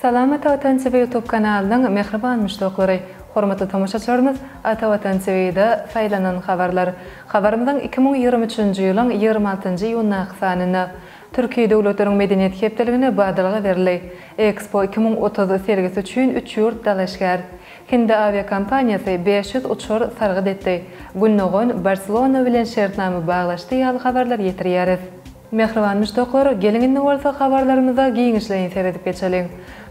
Salam Ata Watan TV YouTube kanalynyň mähriban muşdaklary! Hormatly tomaşaçylarymyz, Ata Watan TV-da Saýlanan habarlar. Habarymyzyň iki müň ýigrimi üçünji ýylyň ýigrimi altynjy iýundaky sanynda Türki döwletleriň medeniýet hepdeligine badalga berildi. Expo iki müň otuz sergisi üçin üç ýurt dalaşgär. Hindi awiakompaniýasy bäş ýüz uçar sargyt etdi. Gündogan Barselona bilen şertnama baglaşdy ýaly habarlar ýetirýäris. Mähriban muşdaklar, geliň indi bolsa habarlarymyza giňişleýin seredip geçeliň.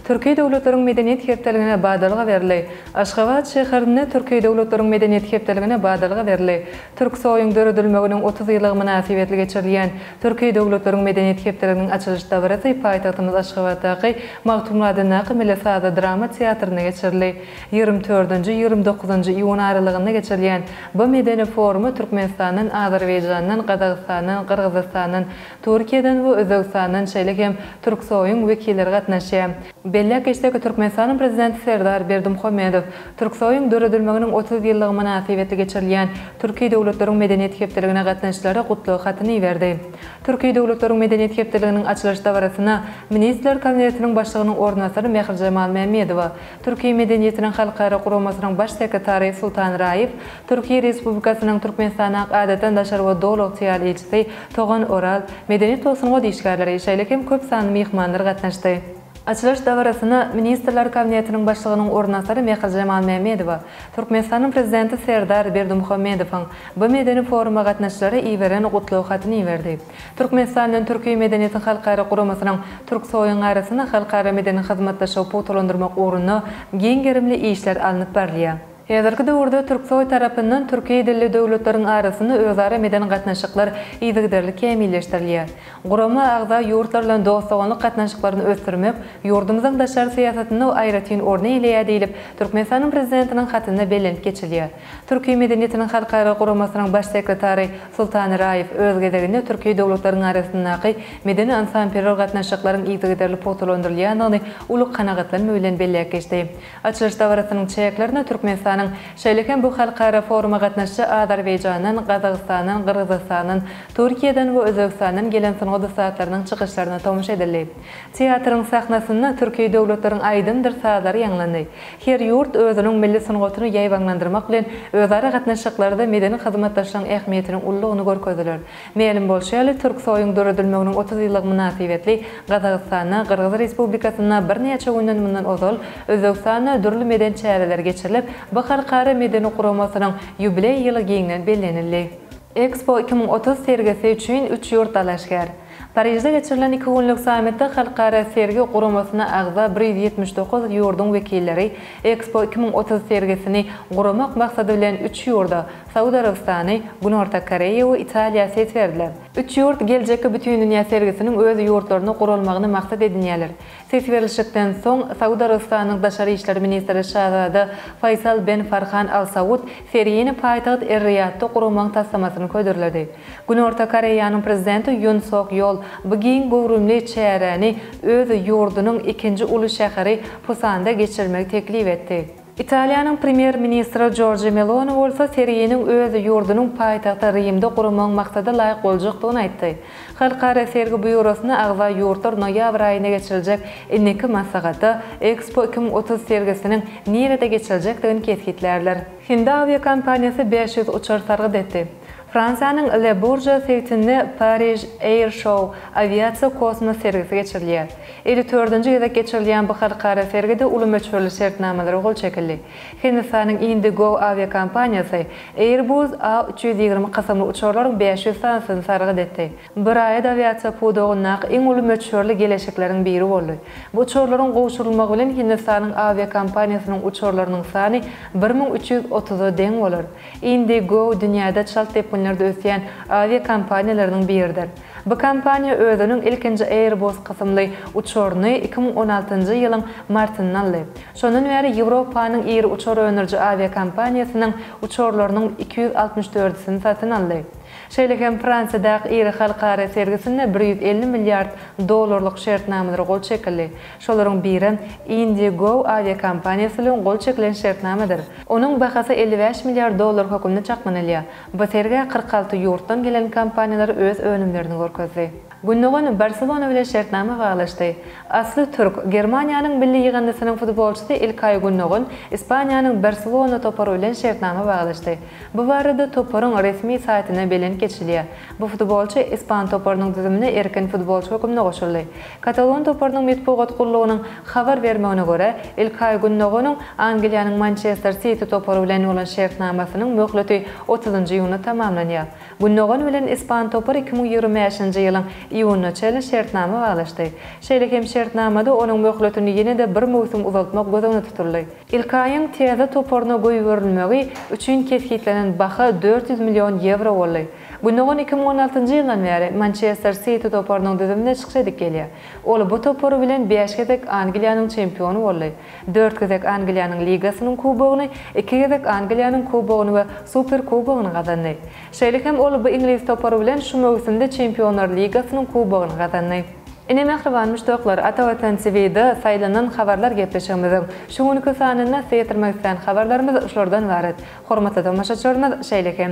Türki döwletleriň medeniýet hepdeligine badalga berildi. Aşgabat şäherinde Türki döwletleriň medeniýet hepdeligine badalga berildi. Türksoýuň döredilmeginiň otuz ýyllygy mynasybetli geçirilýän Türki döwletleriň medeniýet hepdeliginiň açylyş dabarasy paýtagtymyz Aşgabatdaky Magtymguly adyndaky Milli saza-drama teatrynda geçirildi. Ýigrimi tördenji-ýigrimi dokuzynjy iýun aralygynda geçirilýän bu medeni foruma Türkmenistandan, Azerbaýjandan, Gazagystandan, Gyrgyzystandan, Türkiýeden we Özbegistandan şeýle hem Türksoýyň wekilleri gatnaşýar. Belläp geçsek, Türkmenistanyň Prezidenti Serdar Berdimuhamedow Türksoýyň döredilmeginiň otuz ýyllygy mynasybetli geçirilýän Türki döwletleriň medeniýet hepdeligine gatnaşyjylara gutlag hatyny iberdi. Türki döwletleriň medeniýet hepdeliginiň açylyş dabarasyna Ministrler Kabinetiniň Başlygynyň orunbasary Mährijemal Mämmedowa, Türki medeniýetiniň halkara guramasynyň Baş sekretary Sultan Raýew, Türkiýe Respublikasynyň Türkmenistana Adadan daşary we Doly ygtyýarly ilçisi Togan Oral, medeniýet we sungat işgärleri, şeýle hem köp sanly myhmanlar gatnaşdy. Açylyş dabarasyna Ministrler Kabinetiniň Başlygynyň orunbasary Mehrijemal Mämmedowa, Türkmenistanyň Prezidenti Serdar Berdimuhamedowyň bu medeni foruma gatnaşyjylara iberen gutlag hatyny iberdi. Türkmenistan bilen Türki medeniýetiň halkara guramasynyň Türksoýyň arasynda halkara medeni hyzmatdaşlygy pugtalandyrmak ugrunda giň gerimli işler alnyp barylýar. Häzirki döwürde Türksoý tarapyndan türki dilli döwletleriň arasynda özara meden gatnaşyklar yzygiderli kämilleşdirilýär. Gurama agza ýurtlar bilen dost-doganlyk gatnaşyklaryny ösdürmek ýurdumyzyň daşary syýasatynda aýratyn orny eýleýär diýlip, Türkmenistanyň Prezidentiniň hatynda bellenip geçilýär. Türki medeniýetiniň halkara guramasynyň Baş sekretary Sultan Iraýew, öz gezeginde, türki döwletleriň arasyndaky medeni-ynsanperwer gatnaşyklaryň yzygiderli pugtalandyrylýandygyny uly kanagatlanma bilen belläp geçdi. Açylyş dabarasynyň çäklerinde Türkmenistanyň, şeýle hem bu halkara foruma gatnaşyjy Azerbaýjandan, Gazagystandan, Gyrgyzystandan, Türkiýeden we Özbegistandan gelen sungat ussatlarynyň çykyşlaryna tomuş edildi. Teatryň sahnasynda türki döwletleriň aýdymdyr sazlary ýaňlandy. Her ýurt özüniň milli sungatyny ýaýbaňlandyrmak bilen özara gatnaşyklarda medeni hyzmatdaşlygyň ähmiýetiniň uludygyny görkezdiler. Mälim bolşy ýaly, Türksoýuň döredilmeginiň otuz ýyllygy mynasybetli Gazagystanda, Gyrgyz Respublikasynda birnäçe günden mundan ozal, Özbegistanda dürli medeni çäreler geçirilip, bu halkara medeni guramasynyň ýubileý ýyly giňden bellenildi. Expo iki müň otuz sergisi üçin üç ýurt dalaşgär. Parižde geçirilen iki günlük sammitde Halkara sergi guramasyna agza bir ýüz ýetmiş dokuz ýurduň wekilleri Expo iki müň otuz sergisini guramak maksady bilen üç ýurda, Saud Arabystany, Günorta Koreýa we Italiýa ses berdiler. Üç ýurt geljekki bütindünýä sergisiniň öz ýurtlarynda guralmagyny maksat edinýärler. Ses berilişikden soň, Saud Arabystanynyň daşary işler ministri Şazada Faýsal ben Farhan Al Saud sergini paýtagt Er-Riýadda guramagyň taslamasyny hödürledi. Günorta Koreýanyň prezidenti Ýun Sok Ýol bu giň göwrümli çäräni öz ýurdunyň ikinji uly şäheri Pusanda geçirmegi teklip etdi. Italiýanyň premýer-ministri Jorja Meloni bolsa serginiň öz ýurdunyň paýtagty Rimde guramagyň maksada laýyk boljakdygyny aýtdy. Halkara sergi býurosyna agza ýurtlar noýabr aýynda geçiriljek indiki maslahatda Expo iki müň otuz sergisiniň nirede geçiriljekdigini kesgitlärler. Hindi awiakompaniýasy bäş ýüz uçar sargyt etdi. Fransiýanyň Le Bourget sebitinde Paris Air Show awiasiýa-kosmos sergisi geçirilýär. Elli dördünji gezek geçirilýän bu halkara sergide uly möçberli şertnamalara gol çekildi. Hindistanyň IndiGo awiakompaniýasy Airbus A üç ýüz ýigrimi kysymly uçarlaryň bäş ýüz sanysyny sargyt etdi. Braýat awiasiýa pudagyndaky iň uly möçberli geleşikleriň biri boldy. Bu uçarlaryň gowşurylmagy bilen Hindistanyň awiakompaniýasynyň uçarlarynyň sany bir müň üç ýüz otuza deň bolar. IndiGo dünýäde çalt depginlerde ösýän awiakompaniýalarynyň biridir. Bu kompaniýa özüniň ilkinji Airbus kysymly uçaryny iki müň on altynjy ýylyň martynda aldy. Şondan bäri Ýewropanyň iri uçar öndüriji awiakompaniýasynyň uçarlarynyň iki ýüz altmyş dördüsini satyn aldy. Şeýle hem Fransiýadaky iri halkara sergisinde bir ýüz elli milliard dollarlyk şertnamalara gol çekildi. Şolaryň birem IndiGo awiakompaniýasy bilen gol çekilen şertnamadyr. Onuň bahasy elli bäş milliard dollar hökmünde çaklanylýar. Bu sergä kyrk alty ýurtdan gelen kompaniýalar öz önümlerini görkezdi. Gündogan Barselona bilen şertnama baglaşdy. Asly türk, Germaniýanyň milli ýygyndysynyň futbolçysy İlkay Gündogan Ispaniýanyň Barselona topary bilen şertnama baglaşdy. Bu barada toparyň resmi saýtynda belent geçilýär. Bu futbolçy ispan toparynyň düzümine erkin futbolçy hökmünde goşuldy. Katalon toparynyň metbugat gullugynyň habar bermegine görä, İlkay Gündoganyň Angliýanyň Mançester Siti topary bilen bolan şertnamasynyň möhleti otuzynjy iýunda tamamlanýar. Gündogan bilen ispan topar iki müň ýigrimi bäşinji ýylyň iýunyna çenli şertnama baglaşdy. Şeýle hem şertnamada onuň möhletini ýene-de bir möwsüm uzaltmak göz öňünde tutuldy. Ilkaýyň TZ toparyna goýberilmegi üçin kesgitlenen baha dört ýüz million ýewro boldy. Gündogan iki müň on altynjy ýyldan bäri Mançester Siti toparynyň düzüminde çykyş edip gelýär. Ol bu topary bilen bäş gezek Angliýanyň çempiony boldy. Dört gezek Angliýanyň ligasynyň kubogyny, iki gezek Angliýanyň kubogyny we Superkubogyny gazandy. Şeýle hem ol bu iňlis topary bilen şu möwsümde Çempionlar ligasynyň kubogyny gazandy. Ine mähriban muşdaklar, Ata Watan TV-da saýlanan habarlar gepleşigimiziň şu günki sanynda syýatrmak islän habarlarymyz şulardan ybarat. Hormatly tomaşaçylarymyz, şeýle hem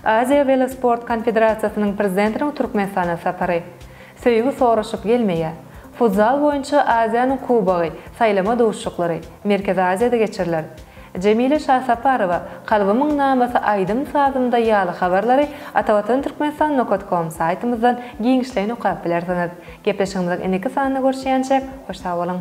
Aziýa welosport konfederasiýasynyň prezidentiniň Türkmenistana sapary, Söýgi soraşyp gelmeýär. Futzal boýunça Aziýanyň Kubogy, saýlama duşuşyklary, Merkezi Aziýada geçiriler. Jemile Şasaparowa, Kalbymyň namasy aýdym-sazymda ýaly habarlary Atavatan Türkmenistan Nokat kom saýtymyzdan giňişleýin okap bilersiňiz. Gepleşigimiziň indiki sanynda görüşýänçäk, hoş sag boluň!